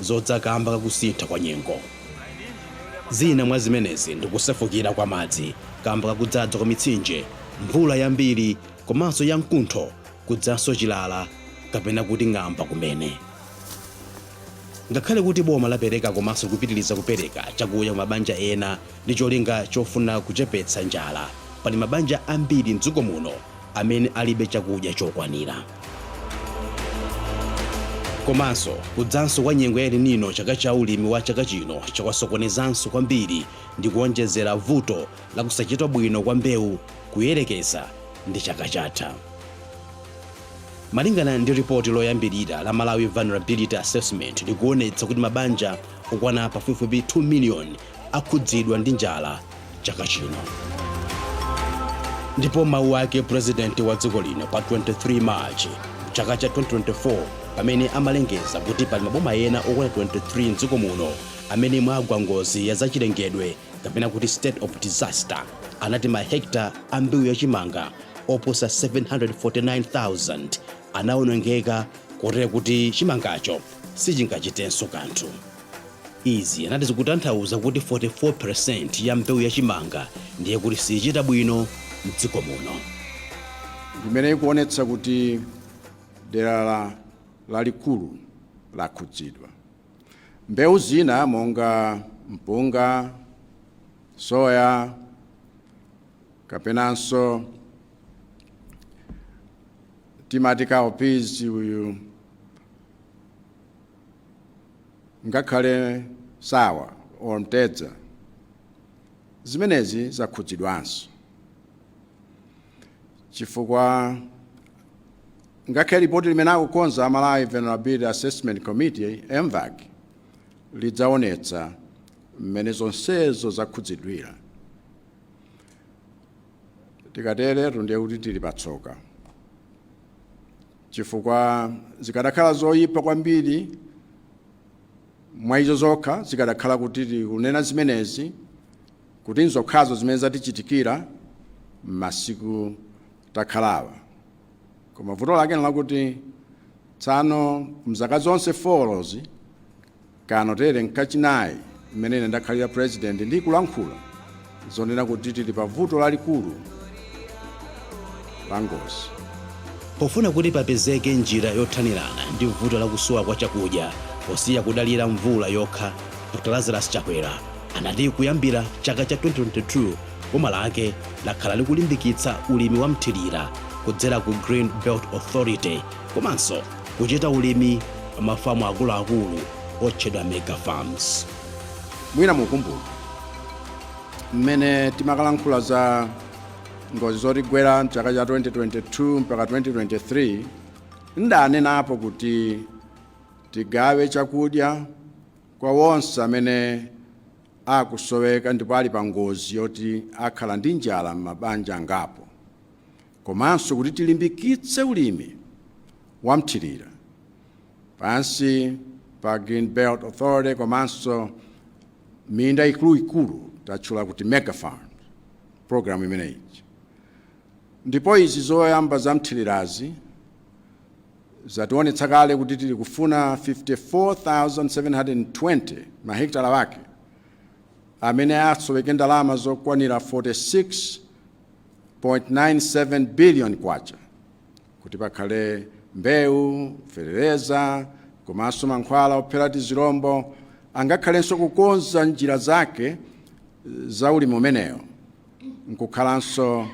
zodza kamba kakusintha kwa nyengo. Zina mwa zimenezi ndi kusefukira kwa madzi kamba kakudzadza kwa mitsinje, mvula yambiri komanso ya mkuntho kudzanso chilala kapena kuti ng'amba kumene. Ngakhale kuti boma lapereka komanso likupitiliza kupereka chakudya ku mabanja ena ndi cholinga chofuna kuchepetsa njala, pali mabanja ambiri m'dziko muno amene alibe chakudya chokwanira. Komanso, kudzanso kwa nyengo ya El Nino pa chaka cha ulimi wa chaka chino kwasokonezanso kwambiri ndi kuwonjezera vuto la kusachita bwino kwa mbewu kuyerekeza ndi chaka chatha. Malingana ndi ripoti loyambirira la Malawi Vulnerability Assessment likuonetsa kuti mabanja okwana pafupifupi 2 miliyoni akhudzidwa ndi njala chaka chino ndipo mawu ake purezidenti wa dziko lino pa 23 march chaka cha 2024 pamene amalengeza kuti pali maboma ena okwana 23 mdziko muno amene mwagwa ngozi ya zachilengedwe kapena kuti state of disaster anati mahekta a mbewu ya chimanga oposa 749,000 anawonongeka kotero kuti chimangacho sichingachitenso kanthu Izi anati zikutanthauza kuti 44% ya mbewu ya chimanga ndiye kuti siyichita bwino m'dziko muno. Ndimene ikuonetsa kuti dera lalikulu lakhudzidwa. Mbewu zina monga mpunga, soya kapenanso timati cowpeas uyu, ngakhale nsawa or mtedza zimenezi zakhudzidwanso chifukwa ngakhale lipoti limene akukonza a malawi vulnerability assessment committee mvac lidzaonetsa mmene zonsezo zakhudzidwira tikateretu ndiye kuti tili patsoka chifukwa zikanakhala zoyipa kwambiri mwa izo zokha zikadakhala kuti tikunena zimenezi kuti nzokhazo zimene zatichitikira m'masiku takhalawa koma vuto lake nlakuti tsano mzaka zonse folozi Kanotere n'kachinayi mmene ine ndakhalira pulezidenti ndi kulankhula zonena kuti tili pa vuto lalikulu la ngozi. Pofuna kuti papezeke njira yothanirana ndi vuto la kusowa kwa chakudya posiya kudalira mvula yokha, Dr Lazarus Chakwera anati kuyambira chaka cha 2022 boma lake lakhala likulimbikitsa ulimi wa mthirira kudzera ku Green Belt Authority. komanso kuchita ulimi pa mafamu akuluakulu otchedwa mega farms mwina mukumbukira mmene timakalankhula za ngozi zotigwera mchaka cha 2022 mpaka 2023 ndinanenapo kuti tigawe chakudya kwa wonse amene akusoweka ndipo ali pa ngozi yoti akhala ndi njala m'mabanja angapo komanso kuti tilimbikitse ulimi wa mthirira pansi pa Green Belt Authority komanso minda ikuluikulu tatchula kuti mega farm program imeneyi ndipo izi zoyamba za mthirirazi zationetsa kale kuti tili kufuna 54720 mahekitala wake amene asoweke ndalama zokwanira 46 .97 billion kwacha kuti pakhale mbewu fetereza komanso mankhwala ophera tizirombo angakhalenso kukonza njira zake za ulimi umenewo nkukhalanso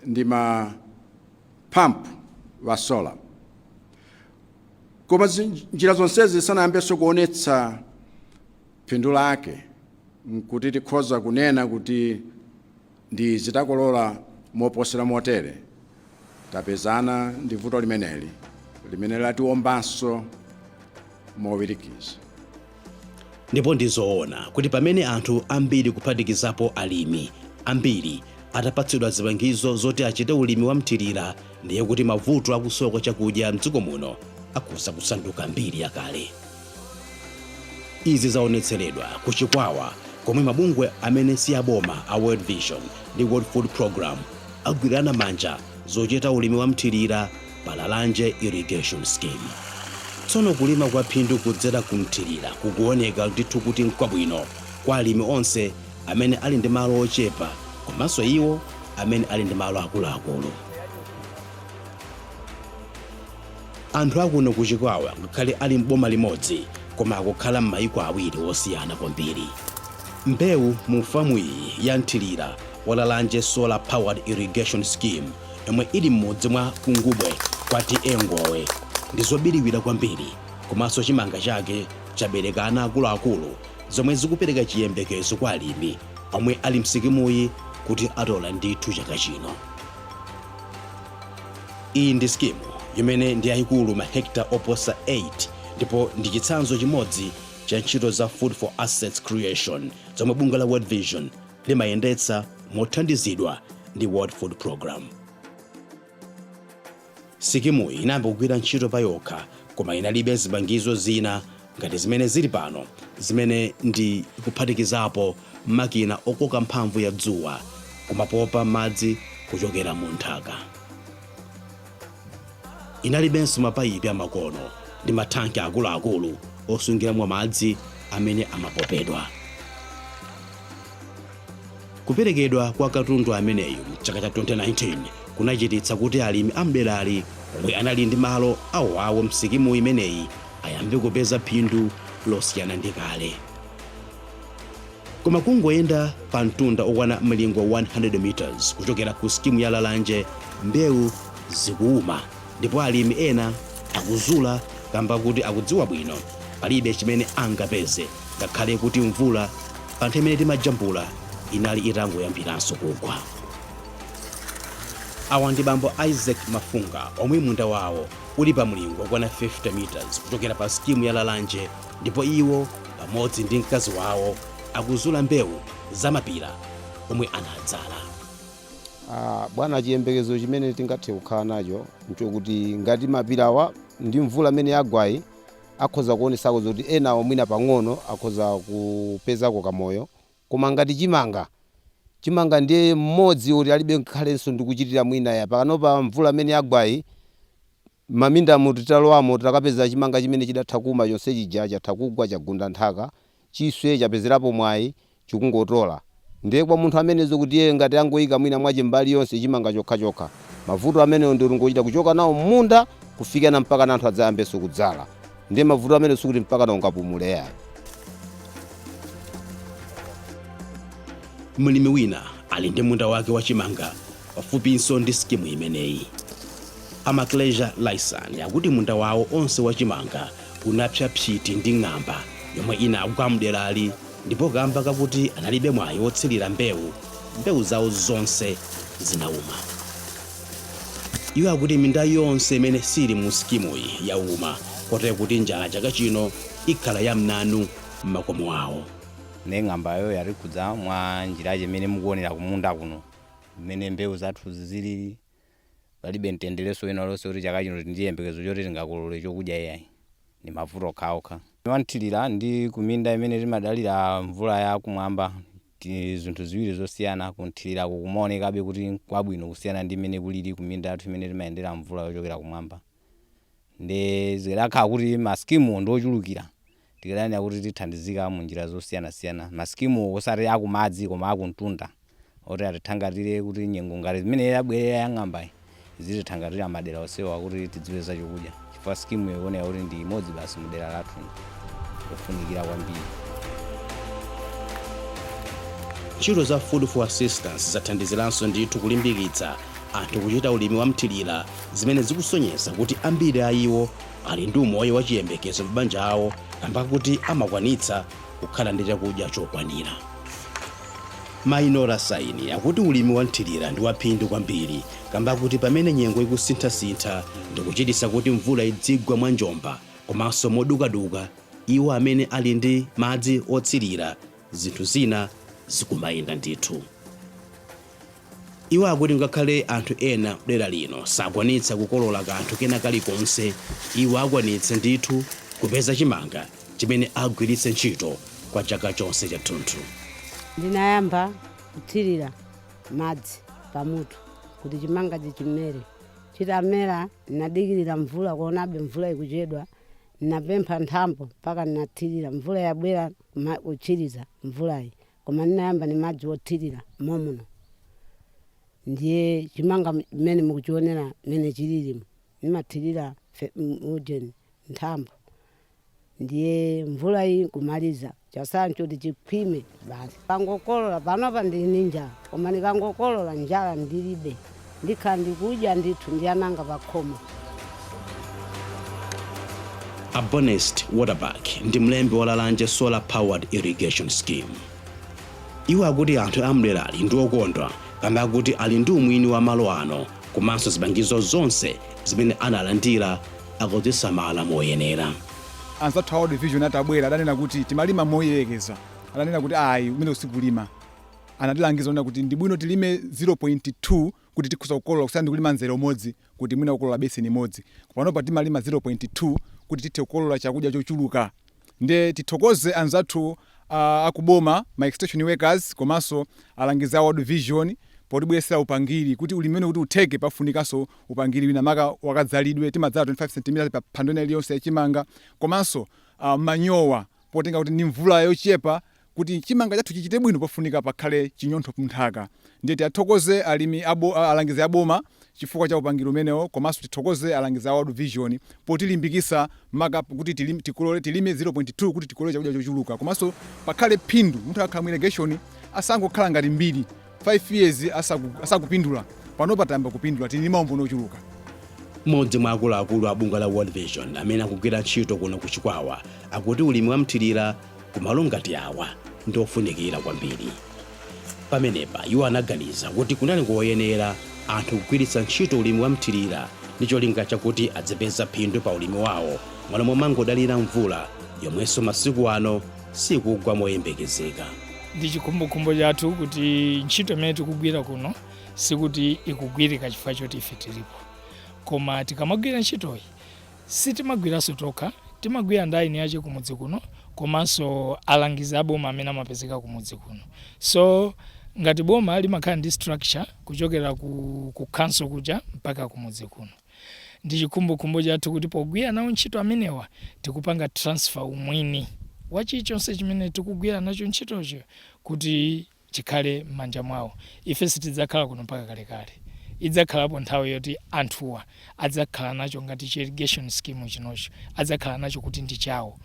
ndi ma pump wa solar koma njira zonsezi zisanayambenso kuonetsa Phindu lake nkuti tikhoza kunena kuti ndi izi takolola moposera motere tapezana ndi vuto limeneli limene latiwombanso mowirikiza. Ndipo ndi zoona kuti pamene anthu ambiri kuphatikizapo alimi ambiri atapatsidwa zipangizo zoti achite ulimi wa mthirira ndiye kuti mavuto akusowa kwa chakudya m'dziko muno akhoza kusanduka mbiri yakale. Izi zaonetseredwa ku Chikwawa komwe mabungwe amene siaboma a World Vision ndi World Food Programme agwirana manja zochita ulimi wa mthirira pa Lalanje Irrigation Scheme. Tsono kulima kwa phindu kudzera ku mthirira kukuoneka ndithu kuti nkwabwino kwa alimi onse amene ali ndi malo ochepa komanso iwo amene ali ndi malo akuluakulu. Anthu akuno ku Chikwawa ngakhale ali m'boma limodzi koma akukhala m'maiko awiri osiyana kwambiri. Mbewu mu famu iyi ya mthilira wa Lalanje Solar Powered Irrigation Scheme yomwe ili m'mudzi mwa Kungubwe kwa TA Ngowe ndi zobiliwira kwambiri komanso chimanga chake chabereka ana akuluakulu zomwe zikupereka chiyembekezo kwa alimi omwe ali msikimuyi kuti atola ndithu chaka chino. Iyi ndi sikimu imene ndi yayikulu mahekita oposa 8 ndipo ndi chitsanzo chimodzi cha ntchito za Food for Assets Creation zomwe bungwe la World Vision limayendetsa mothandizidwa ndi World Food Programme. Sikimuyi inayamba kugwira ntchito payokha koma inalibe zipangizo zina ngati zimene zili pano zimene ndi kuphatikizapo makina okoka mphamvu ya dzuwa kumapopa madzi kuchokera mu nthaka. Inalibenso mapayipi amakono ndi mathanki akuluakulu osungiramo madzi amene amapopedwa. Kuperekedwa kwa katundu ameneyu m'chaka cha 2019 kunachititsa kuti alimi a m'derali omwe anali ndi malo awoawo m'sikimu imeneyi ayambe kupeza phindu losiyana ndi kale. Koma kungoyenda pa mtunda okwana mlingo 100 meters kuchokera ku sikimu ya Lalanje, mbewu zikuuma ndipo alimi ena akuzula kamba kuti akudziwa bwino palibe chimene angapeze ngakhale kuti mvula pa nthawi imene timajambula inali itangoyambiranso kugwa. Awa ndi bambo Isaac Mafunga omwe munda wawo uli pa mlingo wokwana 50 meters kuchokera pa sikimu ya Lalanje ndipo iwo pamodzi ndi mkazi wawo akuzula mbewu za mapira omwe anadzala. Ah, bwana chiyembekezo chimene tingathe kukhala nacho nchokuti ngati mapirawa ndi mvula amene yagwayi akhoza kuonesako zoti enawo mwina pang'ono akhoza kupezako kamoyo Koma ngati chimanga, chimanga ndiye mmodzi woti alibe ngakhalenso ndi kuchitira mwina ya pakanopa mvula amene yagwayi mmindamu titalowamo takapeza chimanga chimene chidatha kuuma chonse chija chatha kugwa chagunda nthaka chiswe chapezerapo mwayi chikungotola ndiye kwa munthu amene zokuti iyeyo ngati angoika mwina mwache mbali yonse chimanga chokha chokha mavuto amenewo ndiye kuti ngochita kuchoka nawo mmunda kufikira mpakana anthu adzayambenso kudzala ndiye mavuto amene sikuti mpakana ungapumule yayi mlimi wina ali ndi munda wake wa chimanga pafupinso ndi sikimu imeneyi a Maclesia Laisan akuti munda wawo onse wa chimanga unapsa psiti ndi ng'amba yomwe inagwa mderali ndipo kamba kakuti analibe mwayi wotsirira mbewu mbewu zawo zonse zinauma Iwo akuti minda yonse imene siili mu sikimuyi yauma kotero kuti njala chaka chino ikhala ya mnanu m'makomo awo. Nde ng'ambayo yatikhudza mwa njira ija imene mukuonera kumunda kuno mmene mbewu zathuzi zilili, palibe mtenderenso wina uliwonse woti chaka chino tili ndi chiyembekezo choti tingakolole chokudya iyayi, ndi mavuto okhaokha. Wamthirira ndi kuminda imene timadalira mvula ya kumwamba zinthu ziwiri zosiyana. Kunthiriraku kumaonekabe kuti n'kwabwino kusiyana ndi mmene kulili kuminda yathu imene timayendera mvula yochokera kumwamba. Ndiye zikadakhala kuti masikimuwo ndi ochulukira, tikadanena kuti tithandizika m'njira zosiyanasiyana. Masikimuwo osati akumadzi koma akumtunda oti atithangatire kuti nyengo ngati imene yabwerera yang'ambayi zitithangatira madera onsewa kuti tidzipeza chokudya chifukwa skimu ioneka kuti ndi imodzi basi mu dera lathu yofunikira kwambiri ntchito za food for assistance zathandiziranso ndithu kulimbikitsa anthu kuchita ulimi wa mthirira zimene zikusonyeza kuti ambiri a iwo ali ndi umoyo wa chiyembekezo m'mabanja awo kamba kakuti amakwanitsa kukhala ndi chakudya chokwanira Mainora Saini akuti ulimi wa mthirira ndi waphindu kwambiri kamba kakuti pamene nyengo ikusinthasintha ndikuchititsa kuti mvula idzigwa mwa njomba komanso modukaduka iwo amene ali ndi madzi othirira zinthu zina zikumayenda ndithu. Iwo akuti ngakhale anthu ena m'dera lino sakwanitsa kukolola kanthu kena kalikonse, iwo akwanitsa ndithu kupeza chimanga chimene agwiritse ntchito kwa chaka chonse chathunthu. Ndinayamba kuthirira madzi pamutu kuti chimangachi chimere. Chitamera ndinadikirira mvula kuonabe mvula ikuchedwa. Ndinapempha nthambo mpaka ndinathirira. Mvula yabwera kuma- kutsiriza mvulayi koma ndinayamba ndi madzi othirira momuno. Ndiye chimanga m- mmene mukuchionera mmene chililimu ndimathirira fe- m- ujeni nthambo. Ndiye mvula iyi nkumaliza, chasala nchoti chikhwime basi. Ndikangokolola, panopa ndili ndi njala, koma ndikangokolola njala ndilibe. Ndikhala ndikudya ndithu ndi ana anga pakhomo. A Bonest Waterback ndi mlembi wa Lalanje Solar Powered Irrigation Scheme. Iwo akuti anthu a mderali ndi okondwa kamba kakuti ali ndi umwini wa malo ano komanso zipangizo zonse zimene analandira akuzisamala moyenera. Anzathu a World Vision atabwera adanena kuti timalima moyerekeza. Adanena kuti ayi kumeneko sikulima. Anatilangiza kunena kuti ndibwino tilime 0.2 kuti tikhoza kukolola kusiyana ndikulima mzere umodzi kuti mwina kukolola beseni imodzi. Panopa timalima 0.2 kuti tithe kukolola chakudya chochuluka. Nde tithokoze anzathu akuboma, ma extension workers komanso alangizi a World Vision potibweretsera upangiri kuti ulimi umenewu kuti utheke pafunikanso upangiri wina maka wakadzalidwe, timadzala 25 centimeters pa phando ina iliyonse ya chimanga komanso manyowa potengera kuti ndi mvula yochepa, Kuti chimanga chathu chichite bwino pafunika pakhale chinyontho mnthaka ndiye tiathokoze alimi alangizi a boma chifukwa cha upangiri umenewo komanso tithokoze alangizi a World Vision potilimbikisa maka kuti tilime tikolole tilime 0.2 kuti tikolole chakudya chochuluka komanso pakhale phindu munthu akhala mu irrigation asangokhala ngati mbiri 5 years asakupindula panopa tayamba kupindula tili ndi maumboni ochuluka. Mmodzi mwa akuluakulu a bungwe la World Vision amene akugwira ntchito kuno ku Chikwawa akuti ulimi wamthirira kumalo ngati awa ndi ofunikira kwambiri. Pamenepa iwo anaganiza kuti kunali koyenera anthu kugwiritsa ntchito ulimi wamthirira ndi cholinga chakuti adzipeza phindu pa ulimi wawo mmalo momangodalira mvula yomwenso masiku ano sikugwa moyembekezeka. Ndi chikhumbokhumbo chathu kuti ntchito imene tikugwira kuno sikuti ikugwirika chifukwa choti ife tilipo, koma tikamagwira ntchitoyi sitimagwiranso tokha, timagwira ndi eni ache kumudzi kuno komanso alangizi aboma amene amapezeka kumudzi kuno. So ngati boma limakhala ndi structure kuchokera ku, ku council kuja mpaka kumudzi kuno. Ndi chikhumbokhumbo chathu kuti pogwira nawo ntchito amenewa tikupanga transfer umwini wa chilichonse chimene tikugwira nacho ntchitocho kuti chikhale m'manja mwawo. Ife sitidzakhala kuno mpaka kalekale. Idzakhalapo nthawi yoti anthuwa adzakhala nacho ngati chi irrigation scheme chinocho, adzakhala nacho kuti ndi chawo.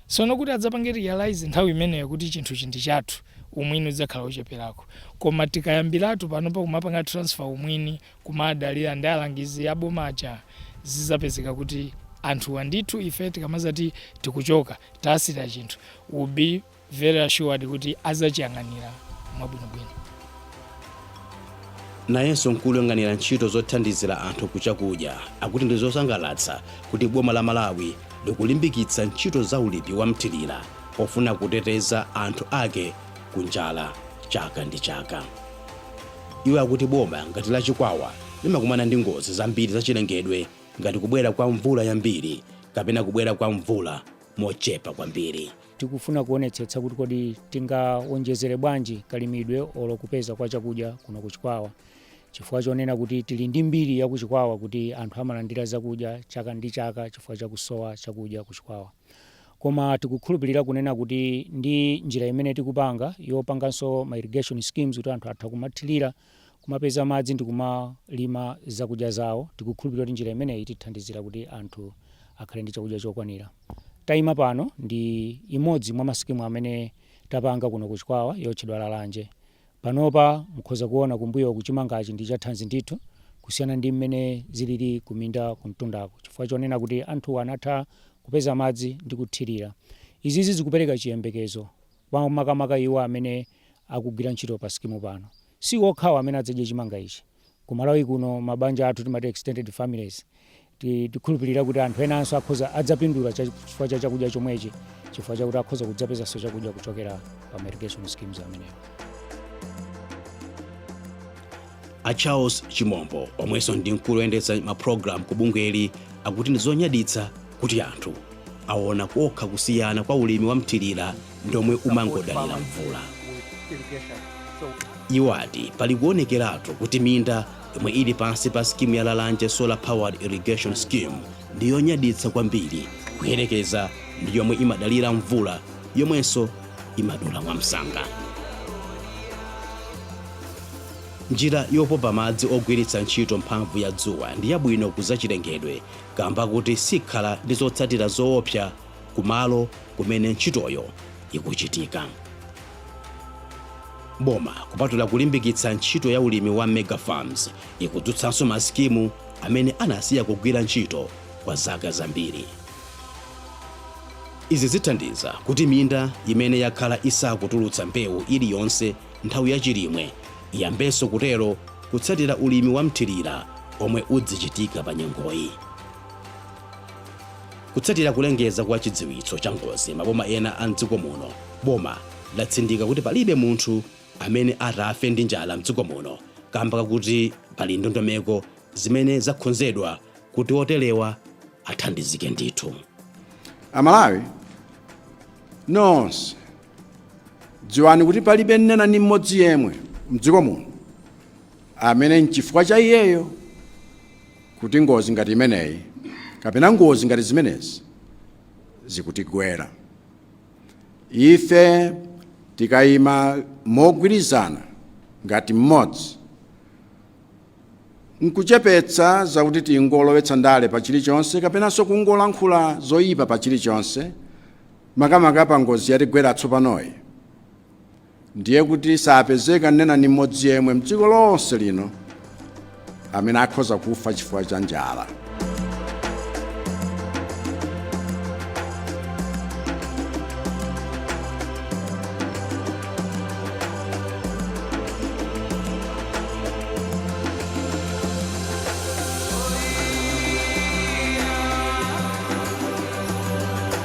Tsono kuti adzapange realise nthawi imeneyo kuti chinthuchi ndi chathu, umwini udzakhala wocheperako. Koma tikayambiratu panopa kumapanga transfer umwini kumadalira ndi alangizi aboma aja zizapezeka kuti anthuwa ndithu ife tikamazati tikuchoka tasiya chinthu will be very assured kuti azachiyang'anira mwabwinobwino nayenso mkulu woyang'anira ntchito zothandizira anthu kuchakudya akuti ndi zosangalatsa kuti boma la malawi likulimbikitsa ntchito za ulimi wa mthirira pofuna kuteteza anthu ake ku njala chaka ndi chaka Iwo akuti boma ngati la Chikwawa limakumana ndi ngozi zambiri za chilengedwe ngati kubwera kwa mvula yambiri kapena kubwera kwa mvula mochepa kwambiri. Tikufuna kuonetsetsa kuti kodi tingaonjezere bwanji kalimidwe olo kupeza kwa chakudya kuno ku Chikwawa chifukwa chonena kuti tili ndi mbiri ya ku Chikwawa kuti anthu amalandira zakudya chaka ndi chaka chifukwa cha kusowa chakudya ku Chikwawa. koma tikukhulupilira kunena kuti ndi njira imene tikupanga yopanganso ma irrigation schemes kuti anthu atha kumathilira kumapeza madzi ndikumalima zakudya zawo tikukhulupilira kuti njira imeneyi itithandizira kuti anthu akhale ndi chakudya chokwanira taima pano ndi imodzi mwa ma sikimu amene tapanga kuno ku Chikwawa yotchedwa Lalanje Panopa mukhoza kuona kumbuyoku chimangachi ndi chathanzi ndithu kusiyana ndi mmene zilili kuminda kumtundako chifukwa chonena kuti anthu anatha kupeza madzi ndi kuthirira. Izizi zikupereka chiyembekezo kwa makamaka iwo amene akugwira ntchito pa sikimu pano. Si okhawa amene adzadye chimanga ichi. Ku Malawi kuno mabanja athu timati extended families tikhulupilira kuti anthu enanso akhoza adzapindula chifukwa cha chakudya chomwechi chifukwa chakuti akhoza kudzapezanso chakudya kuchokera pa ma irrigation schemes amenewo. A Charles Chimombo omwenso ndi mkulu oyendetsa ma program ku bungweli akuti ndi zonyaditsa kuti anthu awona okha kusiyana kwa ulimi wa mthilira ndi omwe umangodalira mvula. Iwo ati pali kuonekeratu kuti minda yomwe ili pansi pa skimu ya Lalanje Solar Powered Irrigation Scheme ndi yonyaditsa kwambiri kuyerekeza ndi yomwe imadalira mvula yomwenso imadula mwamsanga. Njira yopopa madzi ogwiritsa ntchito mphamvu ya dzuwa ndi yabwino ku zachilengedwe kaamba kuti sikhala ndi zotsatira zoopsa ku malo kumene ntchitoyo ikuchitika. Boma kupatula kulimbikitsa ntchito ya ulimi wa Mega Farms, ikudzutsanso ma skimu amene anasiya kugwira ntchito kwa zaka zambiri. Izi zithandiza kuti minda imene yakhala isakutulutsa mbewu iliyonse nthawi ya chilimwe iyambenso kutero kutsatira ulimi wa mthirira omwe udzichitika pa nyengoyi kutsatira kulengeza kwa chidziwitso cha ngozi maboma ena a mdziko muno boma latsindika kuti palibe munthu amene atafe ndi njala mdziko muno kamba kakuti pali ndondomeko zimene zakhonzedwa kuti oterewa athandizike ndithu amalawi nonse Dziwani kuti palibe nnena ndi mmodzi yemwe mdziko muno amene nchifukwa cha iyeyo kuti ngozi ngati imeneyi kapena ngozi ngati zimenezi zikutigwera. Ife tikayima mogwirizana ngati mmodzi nkuchepetsa zakuti tingolowetsa ndale pa chilichonse kapenanso kungolankhula zoyipa pa chilichonse, Makamaka pangozi yatigwera tsopanoyi, ndiye kuti sapezeka nnena ndi mmodzi yemwe m'dziko lonse lino amene akhoza kufa chifukwa cha njala.